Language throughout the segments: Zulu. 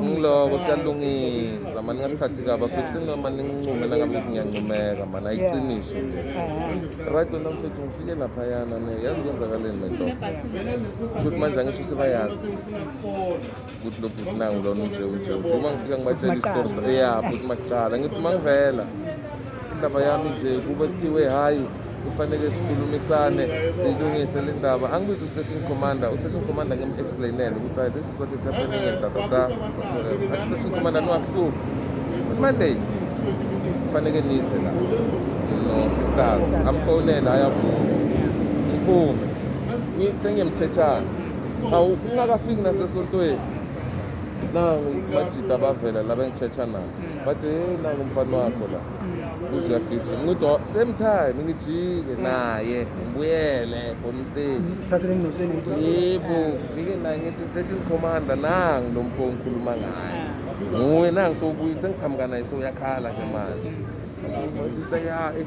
ngiloko siyalungisa mani ngasikhathi kaba futhi noma ningincume nangabe ngiyancumeka mani ayiqiniso right wena mfethu ngifike laphayana ne yazi kwenzakaleni lento shuthi manje angisho sebayazi ukuthi lokhu kunangu lona unje unje uma ngifika ngibatshela isitori ya futhi makuqala ngithi uma ngivela indaba yami nje kube kuthiwe hhayi kufanele sikhulumisane siyilungise le ndaba angibize ustation commander ustation commander ngim-explainele ukuthi hayi this is what is happening and dadada ustation commander niwakuhluphi monday kufanele nize la no-sisters amfonele hhayi avume ngiphume sengiyemtshethana awu ungakafiki nasesontweni nangu majida bavela la bengitshethanayo bathi hey nangu umfana wakho la uze uyagijima ngithi "Oh, same time ngijike naye ngibuyele police station Uthathe lengcotsheni yebo ngifike naye ngithi station commander nangu lo mfo ngikhuluma ngaye nguye nangu sowubuye sengiqhamuka naye sewuyakhala nje manje sister ya eh,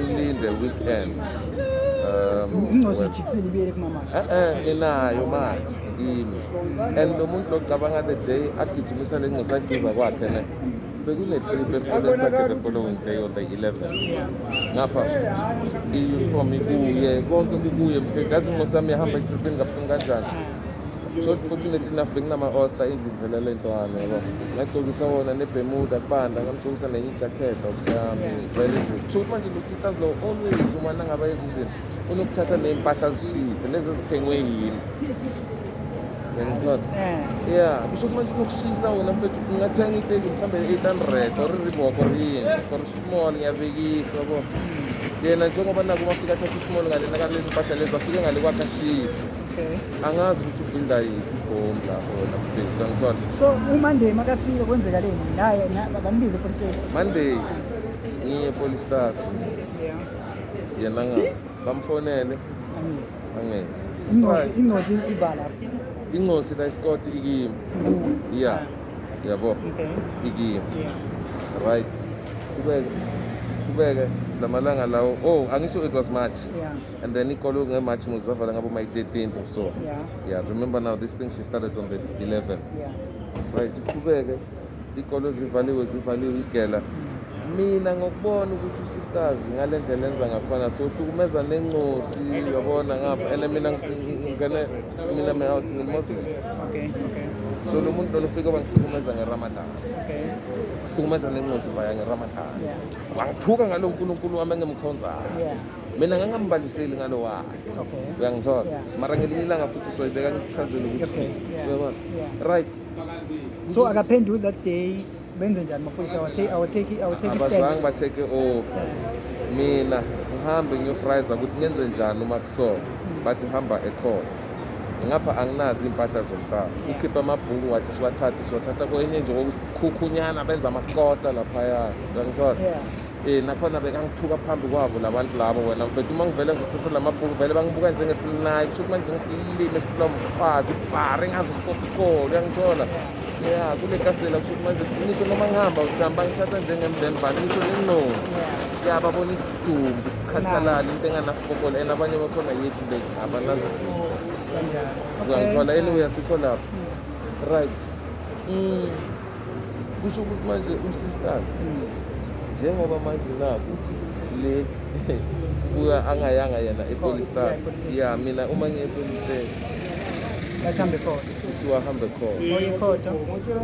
ulinde weekend um, eh, eh, inayo manje yini and lo muntu locabanga the day agijimisa le ncosi ayiduza kwakhe ne bekunetrip esikoleni sakhe the following day on the 11 ngapha i-uniform ikuye konke kukuye mfethu yazi incosi yami yahamba etripini ngabufuni kanjani so fortunately enough benginama-osta endlini vele le ntwana yabo ngagcokisa wona nebemuda kubanda ngamgcokisa nenye ijakhethi okuthami vele nje so ukuthi manje lo-sisters lo always uma nangabe yenza izinto unokuthatha ney'mpahla zishise lezi ezithengwe yini ngiyangithola eh. ya kusho ukuthi manje unokushisa wona mfethu ungathenga iteki mhlawumbe eight hundred or iriboko or yini for small ngiyabekiswa bo yena njengoba naku bafika athatha ismall ngale nakalezi mpahla lezi afike ngale kwakhe ashise Okay. angazi ukuthi ubuilda yiphi ibhomu lapho wena mfethu angithole So uManday makafika kwenzeka leni? Naye na- bambize police station. monday ngiye police stars Yeah. yena nga bamfonele Angizi. angezi Ingozi ingozi ivala. incosi la isikoti ikimi Ngu. ya yabo Okay. ikimi Yeah. right kubeke kubeke lamalanga lawo oh angisho it was march Yeah. And then ikolo ngeMarch muzavala ngabo my 13th or so. Yeah. Yeah, remember now this thing she started on the 11. Yeah. Right, iqhubeke ikolo zivaliwe zivaliwe igela. Mina ngokubona ukuthi sisters ngale ndlela enza ngakhona so hlukumeza nencosi yabona ngapha and mina ngene mina me out single Muslim. Okay, okay. So lo muntu lona ufike wangihlukumeza ngeRamadan. Okay. Hlukumeza nencosi vaya ngeRamadan. Yeah. Wangithuka ngalo uNkulunkulu wami engemkhonzayo. Yeah. mina ngangambaliseli ngalo wakhe uyangithola mara ngelinye ilanga futhi soyibeka ngichazele ukuthi uyabona right so akaphenduli that day benze njani mafundisi abazange batheke over mina ngihambe ngiyofriza ukuthi ngenze njani uma kusona hmm. bathi hamba ecourt ngapha anginazi iy'mpahla zomntana ukhiphe amabhuku wathi siwathathe siwathatha kwenye nje kokukhunyana benza amakota laphaya uyangithola Eh nakhona bekangithuka phambi kwabo labantu labo wena mfethu uma ngivele ngizothatha lamabhuku vele bangibuka njengesinayi kusho manje ngisilime siphula umfazi ibhari ngazikopikolo uyangithola ya kule kasitela kusho manje ngisho noma ngihamba ngihamba ngithatha njengemndeni bani ngisho nenqozi ya babona isidumbu sikhathalala into enganafokola and abanye bakhona yethu le abanazinto uyangithola anyway asikho lapho hmm. right mm. kusho ukuthi manje usisters njengoba manje naku le buka angayanga yena epolistars ya mina uma ngiyepolistars Bahambe khona. Kuthiwa hambe khona. Ngoyekhotha.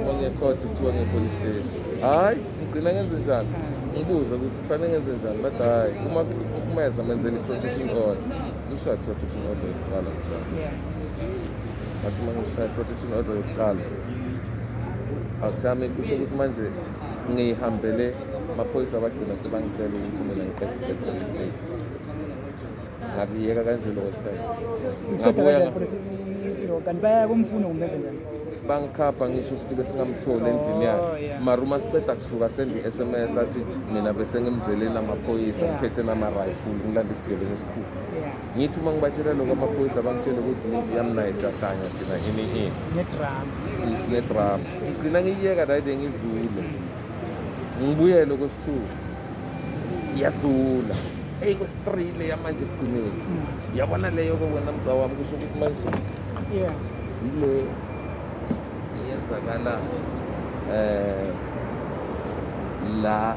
Ngoyekhotha kuthiwa ngepolice station. Hayi, ngigcina ngenze njani? Ngibuza ukuthi kufanele ngenze njani? Bathi hayi, uma kuhlukumeza menzele i-protection order. Ngishaya i-protection order yokuqala mthana. Yeah. Bathi uma ngishaya i-protection order yokuqala. awuthami kusho ukuthi manje ngiyihambele amaphoyisa abagcina sebangitshela ukuthi mina ngiqedile police state ngakuyeka kanje lokho kuphela ngabuya kanti baya kumfuna kumbenze njani bangikhapha ngisho sifike singamtholi endlini yakhe oh, mara uma siceda kusuka sendi i-sms athi mina besengimzeleni amaphoyisa ngiphethe nama-rifle ngilanda isigebengu esikhulu ngithi uma ngibatshela lokho amaphoyisa bangitshele ukuthi impi yami naye siyahlanya thina ini ini nedrama sinedrama ngigcina ngiyiyeka nayide ngidlule ngibuyele kwesithuku iyadula eyi kwesi-three leya manje ekugcineni hmm. yabona leyo-ke wena mza wami kusho ukuthi manje yile eyenzakala um eh, la